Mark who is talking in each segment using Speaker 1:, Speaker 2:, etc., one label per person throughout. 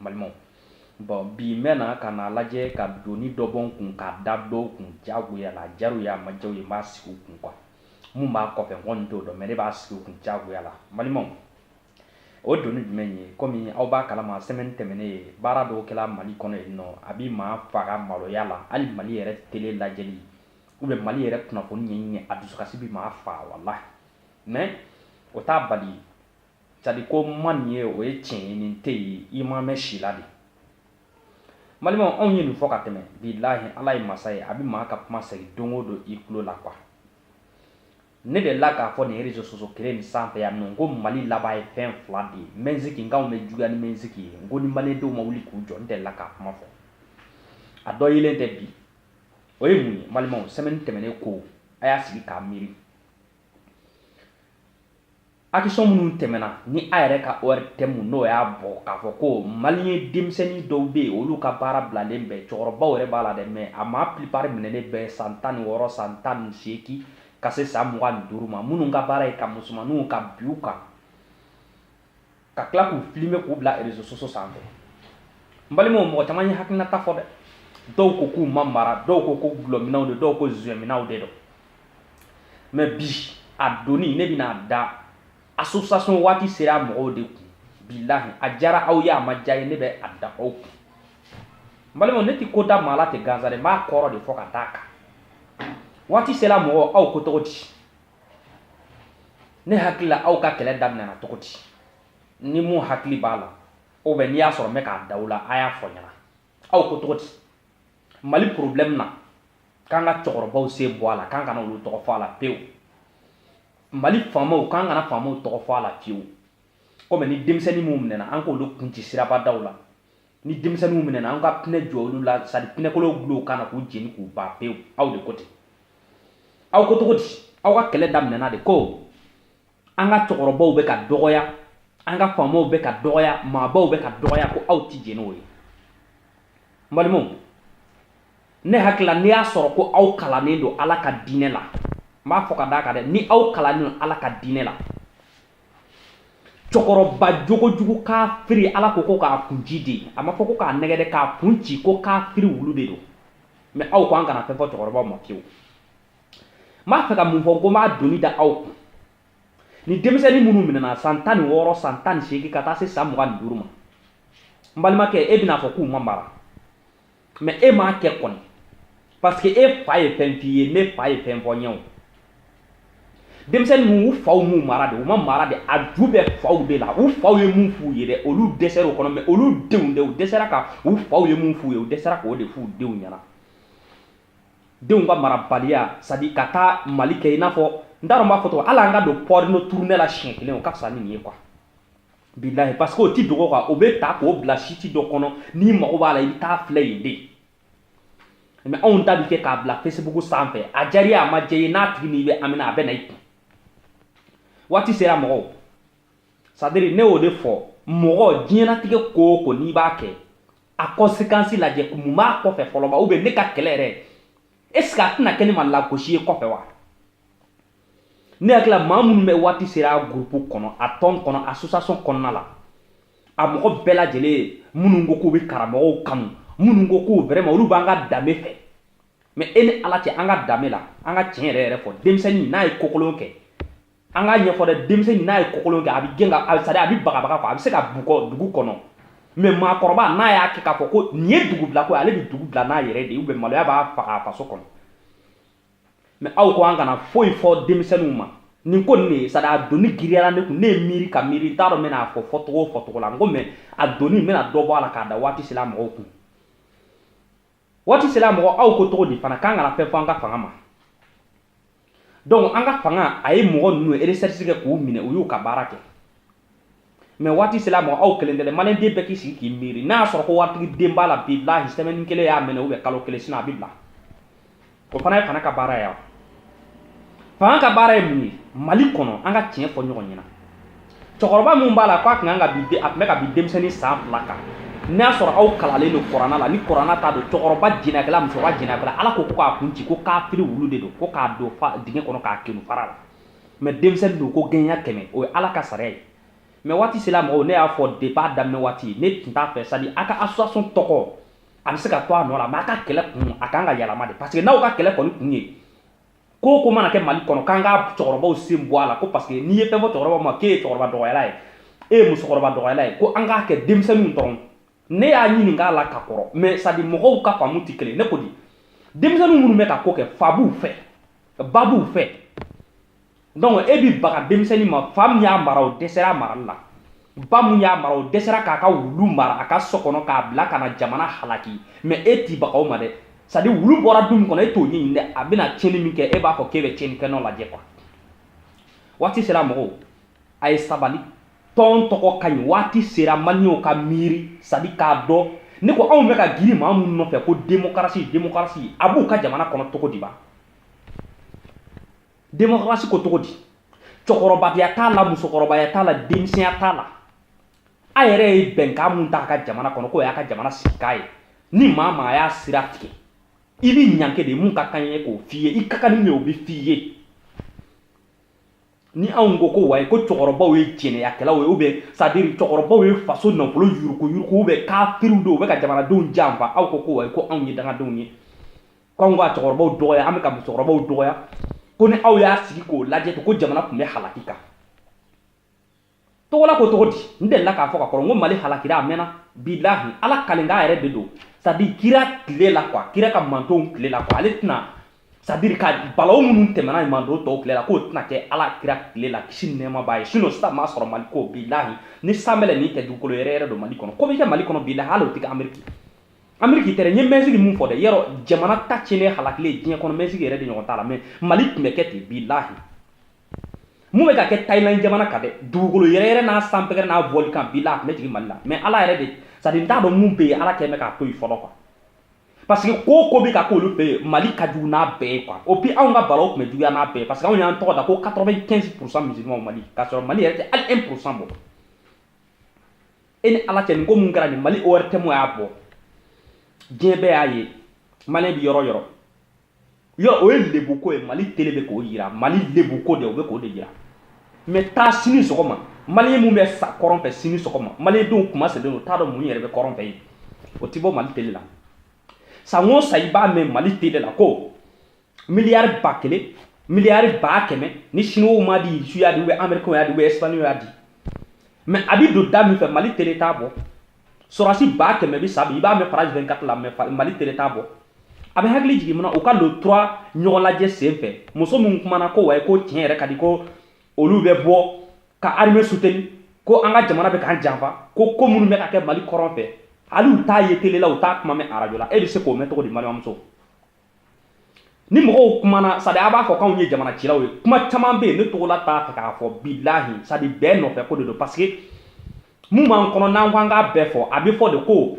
Speaker 1: balimaw bɔn bi n bɛna ka na lajɛ ka doni dɔ bɔ n kun k'a da dɔw kun jagoya la diyara u y'a ma diya u ye n b'a sigi u kun kuwa mun b'a kɔfɛ n kɔni t'o dɔn mɛ ne b'a sigi u kun jagoya la balimaw o doni jumɛn ye komi aw b'a kalama sɛmɛni tɛmɛnen ye baara dɔw kɛla mali kɔnɔ yen nɔ a bi maa faga maloya la hali mali yɛrɛ tele lajɛli u bɛ mali yɛrɛ kunnafoni ɲɛɲini a dusukasi bi maa faga walahi mɛ o t'a bali sadi ko ma nin ye o ye tiɲɛ ye nin tɛ yen i ma mɛn si la de n balimaw anw ye nin fɔ ka tɛmɛ bilahi ala ye masa ye a bɛ maa ka kuma segin don o don i tulo la kuwa ne delila k'a fɔ nin rezo soso kelen nin sanfɛ yan nɔ ko mali laban ye fɛn fila de ye mɛnsiki nka anw bɛ juguya ni mɛnsiki ye n ko ni malidenw ma wuli k'u jɔ n delila k'a kuma fɔ a dɔ yelen tɛ bi o ye mun ye n balimaw sɛmɛni tɛmɛnen ko a y'a sigi k'a miiri Akisɔn minnu tɛmɛna ni a yɛrɛ ka ORTM n'o y'a bɔ k'a fɔ ko maliyɛn denmisɛnnin dɔw bɛ yen olu ka baara bilalen bɛ cɛkɔrɔbaw yɛrɛ b'a la dɛ mɛ a maa pilipari minɛnen bɛɛ san tan ni wɔɔrɔ san tan ni seegin ka se san mugan ni duuru ma minnu ka baara ye ka musomanninw ka bin u kan ka tila k'u filime k'u bila rezo soso sanfɛ n balimaw mɔgɔ caman ye hakilinata fɔ dɛ dɔw ko k'u ma mara dɔw ko ko dɔlɔminnaw de dɔw ko zuɛminnaw de don mɛ bi a doni ne bɛn'a da association waati sera mɔgɔw de kun bilahi a diyara aw ye a ma diya aw ye ne bɛ a da aw kun n balimaw ne tɛ ko da maa la ten gansan dɛ n b'a kɔrɔ de fɔ ka d'a kan waati sera mɔgɔw aw ko cogo di ne hakili la aw ka kɛlɛ daminɛna cogo di ni minnu hakili b'a la o bɛ n'i y'a sɔrɔ n bɛ k'a da aw la a y'a fɔ n ɲɛna aw ko cogo di mali problème na k'an ka cɛkɔrɔbaw sen bɔ a la k'an kana olu tɔgɔ fɔ a la pewu mali faamaw k'an kana faamaw tɔgɔ fɔ a la fiyewu komi ni denmisɛnnin minnu minɛna an k'olu kun ci sirabadaw la ni denmisɛnninw minɛna an ka pinɛ jɔ olu la sadi pinɛkolow dulon u kan na k'u jeni k'u ban pewu aw de ko ten aw ko cogo di aw ka kɛlɛ daminɛna de ko an ka cɛkɔrɔbaw bɛ ka dɔgɔya an ka faamaw bɛ ka dɔgɔya maabaw bɛ ka dɔgɔya ko aw ti jɛn n'o ye n balimaw ne hakili la n'i y'a sɔrɔ ko aw kalannen don ala ka diinɛ la n b'a fɔ ka d'a kan dɛ ni aw kalannen don ala ka diinɛ la cɛkɔrɔba jogojugu kafiri ala ko ko k'a kun ci de a ma fɔ ko k'a nɛgɛn dɛ k'a kun ci ko kafiri wulu de don mɛ aw ko an kana fɛn fɔ cɛkɔrɔbaw ma fiyewu n b'a fɛ ka mun fɔ ko n b'a doni da aw kun ni denmisɛnnin minnu minɛna san tan ni wɔɔrɔ san tan ni seegin ka taa se san mugan ni duuru ma n balimakɛ e bɛna fɔ k'u ma mara mɛ e m'a kɛ kɔni parce que e fa ye fɛn f'i ye ne fa ye fɛn fɔ n ye o denmisɛnnin ninnu u faw m'u mara de u ma mara de a ju bɛ faw de la u faw ye mun f'u ye dɛ olu dɛsɛra o kɔnɔ mɛ olu denw dɛ u dɛsɛra ka u faw ye mun f'u ye u dɛsɛra k'o de f'u denw ɲɛna denw ka marabaliya sadi ka taa mali kɛ i n'a fɔ n t'a dɔn n b'a fɔ cogo hali an ka don pɔrino turunɛ la siɲɛ kelen o ka fisa ni nin ye quoi bilahi parce que o ti dogo quoi o bɛ ta k'o bila siti dɔ kɔnɔ n'i mago b'a la i bɛ taa filɛ yen de mɛ anw ta bɛ kɛ k'a bila facebook sanfɛ a diyara i ye a ma diya i ye n'a tigi n'i bɛ ami na a bɛ na i kun waati sera mɔgɔw sadiri ne y'o de fɔ mɔgɔ diɲɛnatigɛ ko o ko n'i b'a kɛ a kɔnsekansi lajɛ ko min b'a kɔfɛ fɔlɔ ma ubiyɛn ne ka kɛlɛ yɛrɛ est ce que a tɛna kɛ ne ma lagosi ye kɔfɛ wa ne hakili la maa minnu bɛ waati sera a gurupu kɔnɔ a tɔn kɔnɔ asosiyasɔn kɔnɔna la a mɔgɔ bɛɛ lajɛlen ye minnu ko k'u bɛ karamɔgɔw kanu minnu ko k'u vraiment olu b'an ka danbe fɛ mɛ e ni ala cɛ an ka danbe la an ka tiɲɛ yɛrɛ yɛrɛ fɔ denmisɛnnin n'a ye kokolon kɛ an k'a ɲɛfɔ dɛ denmisɛnnin n'a ye kokolon kɛ a bɛ gɛn ka sadi a bɛ bagabaga kɔ a bɛ se ka bugɔ dugu kɔnɔ mɛ maakɔrɔba n'a y'a kɛ k'a fɔ ko nin ye dugu bila ko ale bɛ dugu bila n'a yɛrɛ de ye ubiyɛn maloya b'a faga a faso kɔnɔ mɛ aw ko an kana foyi fɔ denmisɛnninw ma nin ko nin de ye sadi a doni giriyara ne kun ne ye miiri ka miiri n t'a dɔn n bɛna a fɔ fɔcogo o fɔcogo la n ko mɛ a doni n bɛna dɔ bɔ a la k'a da waati sela mɔgɔw kun waati sela mɔgɔ aw ko cogo di fana k'an kana fɛn fɔ an ka fanga ma donc an ka fanga a ye mɔgɔ ninnu eresɛrisi kɛ k'u minɛ u y'u ka baara kɛ mɛ waati sela mɔgɔ aw kelen tɛ dɛ maliyɛn den bɛɛ k'i sigi k'i miiri n'a y'a sɔrɔ ko waritigi den b'a la bilahi sɛmɛni kelen y'a minɛ ubiyɛn kalo kelen sinɔ a bi bila o fana ye fanga ka baara ye fanga ka baara ye mun ye mali kɔnɔ an ka tiɲɛ fɔ ɲɔgɔn ɲɛna cɛkɔrɔba min b'a la k'a tun kan ka bin a tun bɛ ka bin denmisɛnnin san fila kan n'a y'a sɔrɔ aw kalanlen don kurana la ni kurana ta don cɛkɔrɔba jɛnɛkɛla musokɔrɔba jɛnɛkɛla ala ko ko k'a kun ci ko k'a firi wulu de don ko k'a don dingɛ kɔnɔ k'a kerun fara la mɛ denmisɛnnin don ko gɛɲɛ kɛmɛ o ye ala ka sariya ye mɛ waati sera mɔgɔw ne y'a fɔ deba daminɛ waati ne tun t'a fɛ sadi a ka asosiyasɔn tɔgɔ a bɛ se ka to a nɔ la mɛ a ka kɛlɛ kun a ka kan ka yɛlɛma de parce que n'aw ka kɛlɛ kɔni kun ye ko ko mana kɛ mali kɔnɔ k'an ka cɛkɔrɔbaw sen bɔ a la ko parce que n'i ye fɛn fɔ cɛkɔrɔba ma k'e ye cɛkɔrɔba dɔgɔyala ye e ye musokɔrɔba dɔgɔyala ye ko an k'a kɛ denmisɛnninw dɔrɔn ne y'a ɲininka a la ka kɔrɔ mɛ sadi mɔgɔw ka faamu tɛ kelen ne ko di denmisɛnnin minnu bɛ ka ko kɛ fa b'u fɛ ba b'u fɛ donc e bi baga denmisɛnnin ma fa min y'a mara o dɛsɛra marali la ba min y'a mara o dɛsɛra k'a ka wulu mara a ka so kɔnɔ k'a bila ka na jamana halaki mɛ e t'i baga u ma dɛ sadi wulu bɔra du min kɔnɔ e t'o ɲɛɲini dɛ a bɛna tiɲɛni min kɛ e b'a fɔ k'e bɛ tiɲɛni kɛ nɔ lajɛ quoi waati sera mɔgɔw a ye sabali tɔn tɔgɔ ka ɲi waati sera maliyɛnw ka miiri sadi k'a dɔn ne ko anw bɛ ka girin maa minnu nɔfɛ ko demokarasi demokarasi a b'u ka jamana kɔnɔ cogo di ba demokarasi ko cogo di cɛkɔrɔbaya t'a la musokɔrɔbaya t'a la denmisɛnya t'a la a yɛrɛ ye bɛnkan min ta a ka jamana kɔnɔ k'o y'a ka jamana sigikan ye ni maa maa y'a sira tigɛ i bɛ ɲangi de mun ka kan ye k'o f'i ye i ka kan ni min ye o bɛ f'i ye ni anw ko ko wayi ko cɛkɔrɔbaw ye jɛnɛyakɛlaw ye ou bien c'est à dire cɛkɔrɔbaw ye faso nafolo yuruguyurugu ou bien kafiriw don u bɛ ka jamanadenw janfa aw ko ko wayi ko anw ye dangadenw ye ko anw ka cɛkɔrɔbaw dɔgɔya an bɛ ka musokɔrɔbaw dɔgɔya ko ni aw y'a sigi k'o lajɛ ko jamana kun bɛ halaki kan togola ko cogo di n delila k'a fɔ ka kɔrɔ n ko mali halakira a mɛnna bilahi ala kalikan yɛrɛ de don sadiri kira tile la kuwa kira ka mantonw tile la kuwa ale tɛna sadiri ka balaw minnu tɛmɛna manton tɔw tile la k'o tɛna kɛ ala kira tile la kisi nɛɛma b'a ye sinɔ sisan m'a sɔrɔ mali ko bilahi ni sanbɛlɛni tɛ dugukolo yɛrɛyɛrɛ don mali kɔnɔ ko bɛ kɛ mali kɔnɔ bilahi hali o tɛ kɛ ameriki ameriki tɛrɛ n ye mɛkisiki min fɔ dɛ yɛrɛ jamana ta tiɲɛnen halakilen diɲɛ kɔnɔ mɛkisiki yɛrɛ de ɲɔgɔn t'a la mɛ mali tun bɛ kɛ ten bilahi min bɛ ka kɛ Thailand jamana kan dɛ dugukolo yɛrɛyɛrɛ n'a sanpɛgɛrɛ n'a volcan bilahi a tun bɛ jigin Mali la mais Ala yɛrɛ de sadi n t'a dɔn mun bɛ yen Ala kɛlen bɛ k'a to yen fɔlɔ quoi parce que ko ko bɛ ka k'olu fɛ yen Mali ka jugu n'a bɛɛ ye quoi et puis anw ka balaw tun bɛ juguya n'a bɛɛ ye parce que anw y'an tɔgɔ da ko 95 pourcent musulmans Mali k'a sɔrɔ Mali yɛrɛ tɛ hali 1 pourcent bɔ e ni Ala cɛ nin ko min kɛra nin Mali ORTM y'a bɔ diɲɛ bɛɛ y'a ye maliyɛn bɛ yɔrɔ yɔrɔ yɔrɔ o ye lebuko ye mali tele bɛ k'o yira mali lebuko de o bɛ k'o de yira mɛ taa sini sɔgɔma mali min bɛ sa kɔrɔn fɛ sini sɔgɔma mali denw kuma sɛbɛn o t'a dɔn mun yɛrɛ bɛ kɔrɔn fɛ yen o tɛ bɔ mali tele la san o san i b'a mɛn mali tele la ko miliyari ba kelen miliyari ba kɛmɛ ni siniwaw m'a di rusi y'a di ou bien amerikɛnw y'a di ou bien esipaɲɔliw y'a di mɛ a bɛ don da min fɛ mali tele t'a bɔ sɔrɔdasi ba kɛmɛ bɛ sa bi i b'a mɛn faransi 24 la mɛ mali tele t'a bɔ a bɛ hakili jigin munna u ka le 3 ɲɔgɔn lajɛ sen fɛ muso min kumana ko wayi ko tiɲɛ yɛrɛ ka di ko olu bɛ bɔ ka arime suteni ko an ka jamana bɛ k'an janfa ko ko minnu bɛ ka kɛ mali kɔrɔn fɛ hali u t'a ye tele la u t'a kuma mɛn arajo la e bɛ se k'o mɛn cogo di balimamuso ni mɔgɔw kumana sadi a b'a fɔ k'anw ye jamana cilaw ye kuma caman bɛ yen ne togola t'a fɛ k'a fɔ bilahi sadi bɛɛ nɔfɛ ko de don parce que min b'an kɔnɔ n'an ko an k'a bɛɛ fɔ a bɛ fɔ de ko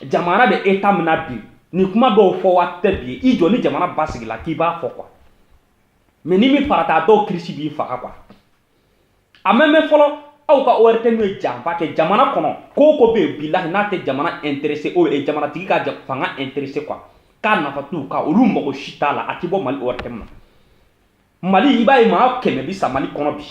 Speaker 1: jamana bɛ eta min na bi nin kuma dɔw fɔ waati tɛ bi i jɔ ni jamana basigila k'i b'a fɔ quoi mais n'i m'i farati a dɔw kirisi b'i faga quoi a mɛn mɛn fɔlɔ aw ka ORTM ye janfa kɛ jamana kɔnɔ ko o ko bɛ yen bilahi n'a tɛ jamana intéressé o ye jamanatigi ka fanga intéressé quoi k'a nafa t'u kan olu mago si t'a la a tɛ bɔ Mali ORTM Mali i b'a ye maa kɛmɛ bi sa Mali kɔnɔ bi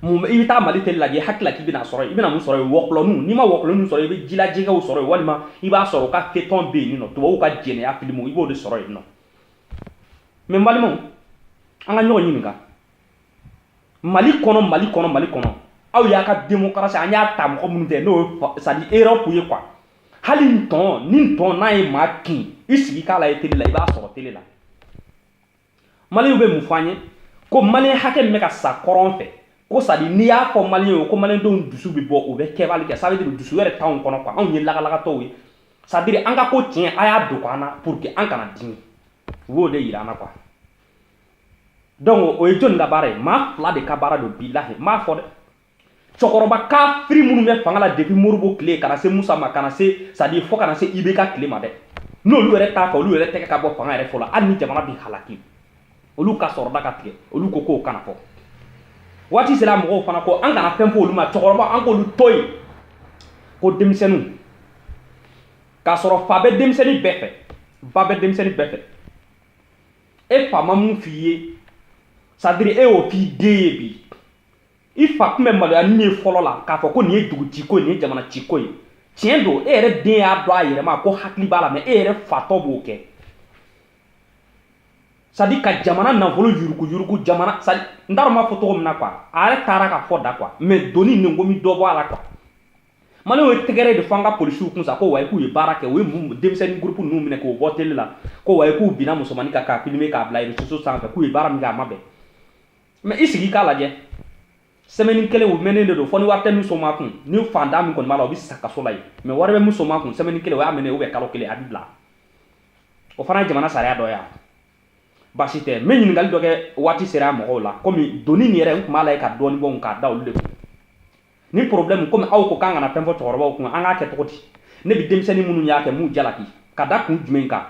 Speaker 1: mun i bɛ taa Mali tele lajɛ hakilila k'i bɛna sɔrɔ i bɛna mun sɔrɔ yen wɔkulɔninw n'i ma wɔkulɔninw sɔrɔ i bɛ jilajɛgɛw sɔrɔ yen walima i b'a sɔrɔ u ka feuilleton bɛ yen nɔ tubabuw ka jɛnɛya filimuw i b'o de sɔrɔ yen nɔ mais Mali maaw an ka ɲɔgɔn ɲininka mali kɔnɔ mali kɔnɔ mali kɔnɔ aw y'a ka demokarasi an y'a ta mɔgɔ minnu fɛ n'o ye c'est-à-dire Europe ye quoi hali n tɔn ni tɔn n'a ye maa kin i sigi k'a lajɛ tele la i b'a sɔrɔ tele la maliyɛnw bɛ mun fɔ an ye ko maliyɛn hakɛ min bɛ ka sa kɔrɔn fɛ ko c'est-à-dire n'i y'a fɔ mali ye ko malidenw dusu bɛ bɔ u bɛ kɛbali kɛ sabi dusu yɛrɛ t'anw kɔnɔ quoi anw ye lagalagatɔw ye c'est-à-dire an ka ko tiɲɛ a y'a dogo an na pour que an kana dimi u b'o de yira an na quoi donc o ye jɔni ka baara ye maa fila de ka baara don bilahi n b'a fɔ dɛ cɛkɔrɔba kafiri minnu bɛ fanga la depuis modibo tile ka na se musa ma ka na se c'est-à-dire fo ka na se ibk tile ma dɛ n'olu yɛrɛ t'a fɛ olu yɛrɛ tɛgɛ ka bɔ fanga yɛrɛ fɔlɔ hali ni jamana bi halaki olu ka sɔrɔda ka tigɛ olu ko k'o kana fɔ waati sera mɔgɔw fana ko an kana fɛn fɔ olu ma cɛkɔrɔba an k'olu to yen ko denmisɛnninw k'a sɔrɔ fa bɛ denmisɛnnin bɛɛ fɛ ba bɛ denmisɛnnin bɛɛ fɛ e fa ma mun f'i ye c'est-à-dire e y'o f'i den ye bi i fa tun bɛ maloya nin ye fɔlɔ la k'a fɔ ko nin ye dugu ci ko ye nin ye jamana ci ko ye tiɲɛ don e yɛrɛ den y'a dɔn a yɛrɛ ma ko hakili b'a la mais e yɛrɛ fatɔ b'o kɛ c'est-à-dire ka jamana nafolo yuruguyurugu jamana c'est-à-dire n t'a dɔn n b'a fɔ cogo min na quoi a yɛrɛ taara ka fɔ da quoi mais doni nin ko n bi dɔ bɔ a la quoi maliyɛnw ye tɛgɛrɛ de fɔ an ka polisiw kun sa ko wayi k'u ye baara kɛ u ye denmisɛnnin gurupu ninnu minɛ k'u bɔ tele la ko wayi k'u binna musomannin kan k'a filmer k'a bila réseaux sociaux sanfɛ k'u ye baara min kɛ a ma bɛn mais i sigi k'a lajɛ semaine kelen u minɛnen de don fo ni wari tɛ min somaa kun ni fantan min kɔni b'a la o bɛ sa kaso la yen mais wari bɛ min somaa kun semaine kelen o y'a minɛ ou bien kalo kelen a bɛ bila o fana ye jamana sariya dɔ ye baasi tɛ n bɛ ɲininkali dɔ kɛ waati sera mɔgɔw la comme doni nin yɛrɛ n tun b'a lajɛ ka dɔɔni bɔ k'a da olu de kun ni problème comme aw ko k'an kana fɛn fɔ cɛkɔrɔbaw kun an k'a kɛ cogo di ne bɛ denmisɛnnin minnu y'a kɛ n b'u jalaki ka da kun jumɛn kan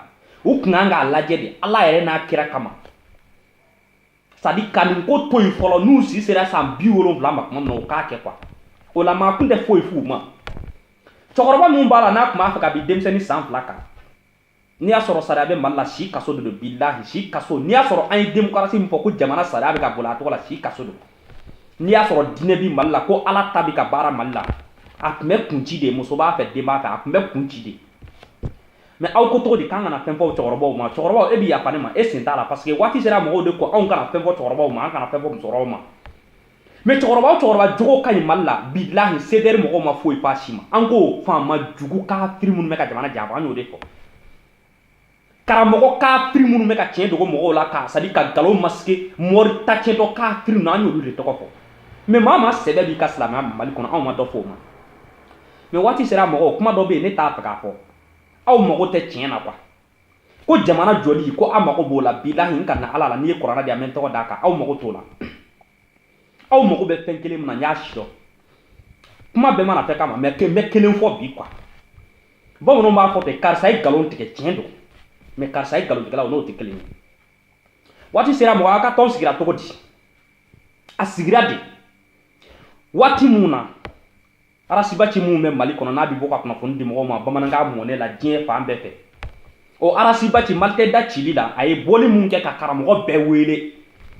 Speaker 1: u tun kan k'a lajɛ de ala yɛrɛ n'a kira kama c'est-à-dire ka nin ko to yen fɔlɔ n'u si sera san bi wolonfila ma tuma min na u k'a kɛ quoi o la maa tun tɛ foyi f'u ma cɛkɔrɔba min b'a la n'a tun b'a fɛ ka bin denmisɛnnin san fila kan n'i y'a sɔrɔ sariya bɛ mali la si kaso de don bilahi si kaso n'i y'a sɔrɔ an ye demokarasi min fɔ ko jamana sariya bɛ ka boli a tɔgɔ la si kaso don n'i y'a sɔrɔ diinɛ bi mali la ko ala ta bɛ ka baara mali la a tun bɛ kun ci de muso b'a fɛ den b'a fɛ a tun bɛ kun ci de mais aw ko cogo di k'an kana fɛn fɔ cɛkɔrɔbaw ma cɛkɔrɔbaw e bɛ yafa ne ma e sen t'a la parce que waati sera mɔgɔw de ko anw kana fɛn fɔ cɛkɔrɔbaw ma an kana fɛn fɔ musokɔrɔbaw ma mais cɛkɔrɔba o cɛkɔrɔba jogo ka ɲi mali la bilahi CDR mɔgɔw ma foyi fɔ a si ma an ko faama jugu kafiri minnu bɛ ka jamana janfa an y'o de fɔ karamɔgɔ kafiri minnu bɛ ka tiɲɛ dogo mɔgɔw la ka c'est-à-dire ka nkalon masquer mɔri tacɛtɔ kafiri ninnu an y'olu de tɔgɔ fɔ mais maa ma sɛbɛ b'i ka silamɛya mali kɔnɔ anw ma dɔ fɔ o ma mais waati sera mɔgɔw kuma dɔ bɛ yen ne t'a fɛ k'a fɔ aw mago tɛ tiɲɛ na quoi ko jamana jɔli ko aw mago b'o la bilahi n kanna ala la n'i ye kuranɛ di yan n bɛ n tɛgɛ d'a kan aw mago t'o la aw mago bɛ fɛn kelen min na n y'a sidɔn kuma bɛɛ ma na fɔ kama mais n bɛ kelen fɔ bi quoi bamananw b'a fɔ ten karisa ye nkalon tigɛ tiɲɛ don mais karisa ye nkalontigɛla o n'o tɛ kelen ye waati sera mɔgɔ a ka tɔn sigira cogo di a sigira de waati mun na arasibaci min bɛ mali kɔnɔ n'a bɛ bɔ ka kunnafoni di mɔgɔw ma bamanankan mɔnen na diɲɛ fan bɛɛ fɛ o arasibaci malite da cili la a ye bɔli min kɛ ka karamɔgɔ bɛɛ wele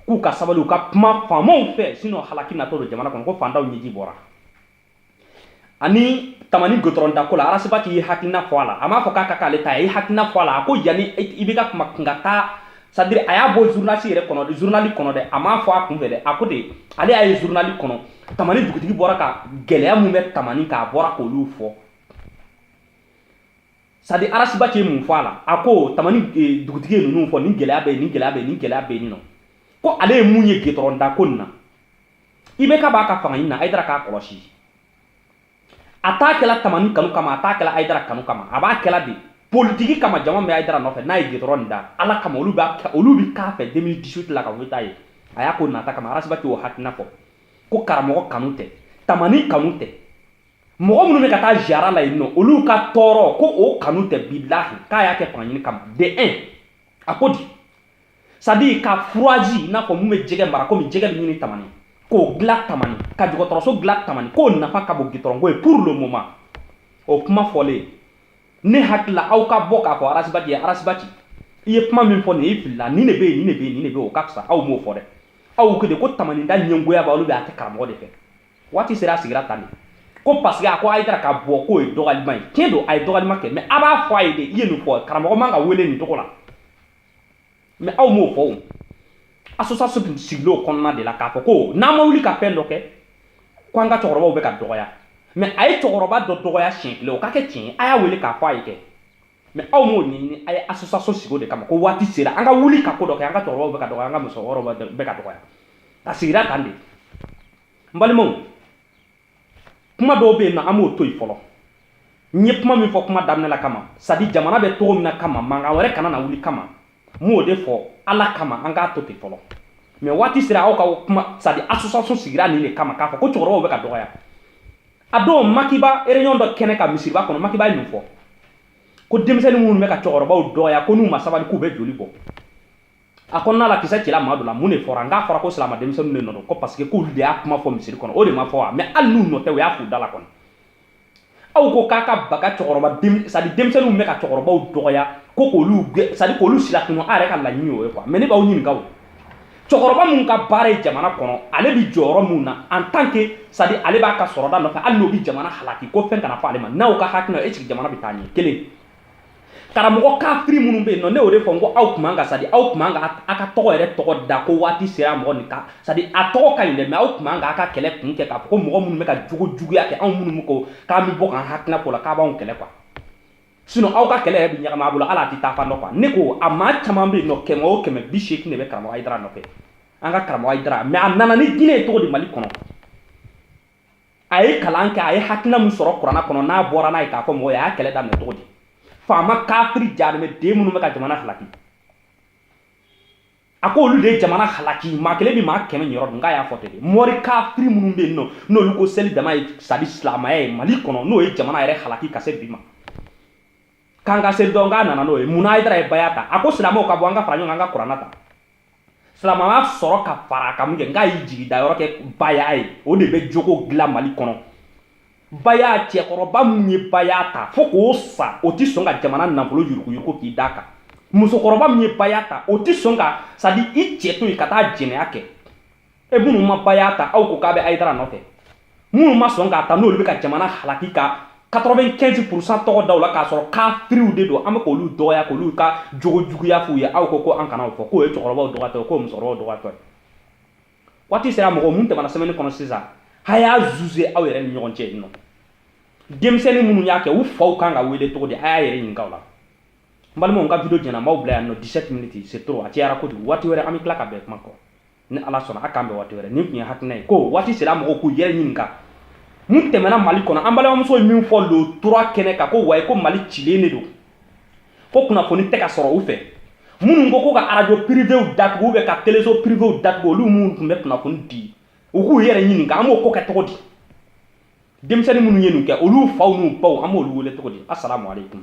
Speaker 1: k'u ka sabali u ka kuma faamaw fɛ sinon halaki natɔ don jamana kɔnɔ ko faantanw ɲɛji bɔra ani tamani gitɔrɔn dako la arasibaci ye hakilina fɔ a la a m'a fɔ k'a ka k'ale ta ye a ye hakilina fɔ a la a ko yanni i bɛ ka kuma kun ka taa c'est-à-dire a y'a bɔ zurunalisi yɛrɛ kɔnɔ zurunali kɔnɔ dɛ a m'a fɔ a kun fɛ dɛ a ko de ale y'a ye zurunali kɔnɔ tamani dugutigi bɔra ka gɛlɛya min bɛ tamani k'a bɔra k'olu fɔ c'est-à-dire arasibaci ye mun fɔ a la a ko tamani e, dugutigi ye ninnu fɔ nin gɛlɛya bɛ yen nin gɛlɛya bɛ yen nin gɛlɛya bɛ yen nɔ ko ale ye mun ye gitɔrɔn dako nin na IBK b'a ka fanga ɲini na ayidara k'a kɔlɔsi a t'a kɛla tamani kanu kama a t'a kɛla ayidara kanu kama a b'a kɛla de politiki kama jama bɛ ayidara nɔfɛ n'a ye gitɔrɔn nin da ala kama olu b'a olu bi k'a fɛ 2018 la ka wote a ye a y'a k'o nata kama arasibaci y'o hakilina fɔ ko karamɔgɔ kanu tɛ tamani kanu tɛ mɔgɔ minnu bɛ ka taa ziyara la yen nɔ olu ka tɔɔrɔ ko o kanu tɛ bilahi k'a y'a kɛ fanga ɲini kama de un a ko di c'est-à-dire ka firiji i n'a fɔ min bɛ jɛgɛ mara komi jɛgɛ bɛ ɲini tamani k'o dilan tamani ka dɔgɔtɔrɔso dilan tamani k'o nafa ka bon gitɔrɔnko ye pour le moment o kuma fɔlen ne hakili la aw ka bɔ k'a fɔ arasibati ye arasibati i ye kuma min fɔ nin i filila nin de bɛ yen nin de bɛ yen nin de bɛ yen o ka fisa aw m'o fɔ dɛ aw ko de ko tamani de ɲɛngoya b'aw bɛ a tɛ karamɔgɔ de fɛ waati sera a sigira tan de ko parce que a ko ayidara ka bɔ k'o ye dɔgɔlima ye tiɲɛ don a ye dɔgɔlima kɛ mais a b'a fɔ a ye de i ye nin fɔ karamɔgɔ man ka wele nin tɔgɔ la mais aw m'o fɔ o association sigila o kɔnɔna de la k'a fɔ ko n'an ma wuli ka fɛn dɔ kɛ ko an ka cɛkɔrɔbaw bɛ ka dɔgɔya mais a ye cɛkɔrɔba dɔ dɔgɔya siɲɛ kelen o ka kɛ tiɲɛ a y'a wele k'a fɔ a ye kɛ mais aw m'o ɲɛɲini a ye association sigi o de kama ko waati sera an ka wuli ka ko dɔ kɛ an ka cɛkɔrɔbaw bɛ ka dɔgɔya an ka musokɔrɔbaw bɛ ka dɔgɔya a sigira tan de n balimaw kuma dɔw bɛ yen nɔ an b'o to yen fɔlɔ n ye kuma min fɔ kuma daminɛ la kama c'est à dire jamana bɛ cogo min na kama mankan wɛrɛ kana na wuli kama n m'o de fɔ ala kama an k'a to ten fɔlɔ mais waati sera aw ka kuma c'est à dire association sigira nin de kama k'a fɔ ko cɛkɔrɔbaw bɛ ka dɔgɔya a don maki ba réunion dɔ kɛnɛ kan misiriba kɔnɔ maki ba ye mun fɔ ko denmisɛnnin minnu bɛ ka cɛkɔrɔbaw dɔgɔya ko n'u ma sabali k'u bɛ joli bɔ a kɔnɔna la kisɛ cila maa dɔ la mun de fɔra n k'a fɔra ko silama denmisɛnninw de nɔ don ko parce que k'olu de y'a kuma fɔ misiri kɔnɔ o de ma fɔ wa mais hali n'u nɔ tɛ u y'a f'u da la kɔni aw ko k'a ka baga cɛkɔrɔba c'est à dire denmisɛnninw bɛ ka cɛkɔrɔbaw dɔgɔya ko k'olu c'est à dire k'olu silatunun a yɛrɛ ka laɲini o ye quoi mais ne b'aw ɲininka o cɛkɔrɔba min ka baara ye jamana kɔnɔ ale bɛ jɔyɔrɔ min na en tant que c'est à dire ale b'a ka sɔrɔda nɔfɛ hali n'o bɛ jamana halaki ko fɛn kana fɔ ale ma n'aw ka hakilina est ce que jamana bɛ taa ɲɛ kelen karamɔgɔ kafiri minnu bɛ yen nɔ ne y'o de fɔ n ko aw tun man ka c'est à dire aw tun man ka a ka tɔgɔ yɛrɛ tɔgɔ da ko waati sera mɔgɔ nin ka c'est à dire a tɔgɔ ka ɲi dɛ mais aw tun man ka a ka kɛlɛ kun kɛ k'a fɔ ko mɔgɔ minnu bɛ ka jogo juguya kɛ anw minnu ko k'an bɛ bɔ k'an hakilina fɔ la k'a b'anw kɛlɛ quoi sinon aw ka kɛlɛ yɛrɛ bɛ ɲagami a bolo hali a tɛ taa fan dɔ quoi ne ko a maa caman bɛ yen nɔ kɛmɛ o kɛmɛ bi seegin de bɛ karamɔgɔ hayidara nɔfɛ an ka karamɔgɔ hayidara mais a nana ni diinɛ ye cogo di mali kɔnɔ a ye kalan kɛ a ye hakilina min sɔrɔ kuranna kɔnɔ n'a bɔra n'a ye k'a fɔ mɔgɔ ye a y'a kɛlɛ daminɛ cogo di faama kafiri jarimɛ den minnu bɛ ka jamana halaki a ko olu de ye jamana halaki maa kelen bɛ maa kɛmɛ niyɔrɔ dun k'a y'a fɔ ten mɔri kafiri minnu bɛ yen nɔ n'olu ko seli dama ye c'est à dire silamaya ye mali kɔnɔ n'o ye jamana yɛrɛ halaki ka se bi ma k'an ka seli dɔn k'a nana n'o ye mun na hayidara ye baya ta a ko silamɛw ka bɔ an ka fara ɲɔgɔn kan an ka kuranna ta silamɛya sɔrɔ ka fara a kan mun kɛ n k'a y'i jigi da yɔrɔ kɛ baya ye o de bɛ jogo dilan mali kɔnɔ baya cɛkɔrɔba min ye baya ta fo k'o sa o tɛ sɔn ka jamana nafolo yuruguyurugu k'i d'a kan musokɔrɔba min ye baya ta o tɛ sɔn ka c'est à dire i cɛ to yen ka taa jɛnɛya kɛ e minnu ma baya ta aw ko k'a bɛ hayidara nɔfɛ minnu ma sɔn k'a ta n'olu bɛ ka jamana halaki ka 95 pourcent tɔgɔ da u la k'a sɔrɔ kafiriw de don an bɛ k'olu dɔgɔya k'olu ka jogo juguya f'u ye aw ko ko an kana o fɔ k'o ye cɛkɔrɔbaw dɔgɔtɔ ye k'o musokɔrɔbaw dɔgɔtɔ ye waati sera mɔgɔ mun tɛmɛna semaine kɔnɔ sisan a y'a juger aw yɛrɛ ni ɲɔgɔn cɛ yen nɔ denmisɛnnin minnu y'a kɛ u faw kan ka wele cogo di a y'a yɛrɛ ɲininka o la n balimaw n ka video jɛna n b'aw bila yan nɔ 17 minutes c'est trop a cayara kojugu waati wɛrɛ an bɛ tila ka bɛn kuma kɔ ni ala sɔnna a k'an bɛn waati wɛrɛ nin tun ye hakilina ye ko waati sera mɔgɔw k'u yɛrɛ ɲininka mun tɛmɛna mali kɔnɔ an balimamuso ye min fɔ le trois kɛnɛ kan ko wayi ko mali cilen de don ko kunnafoni tɛ ka sɔrɔ u fɛ minnu ko ko ka arajo pirivew datugu ou bien ka teleso pirivew datugu olu minnu tun bɛ kunnafoni di u k'u yɛrɛ ɲininka an b'o ko kɛ cogo di denmisɛnnin minnu ye nin kɛ olu faw n'u baw an b'olu wele cogo di asalamu aleykum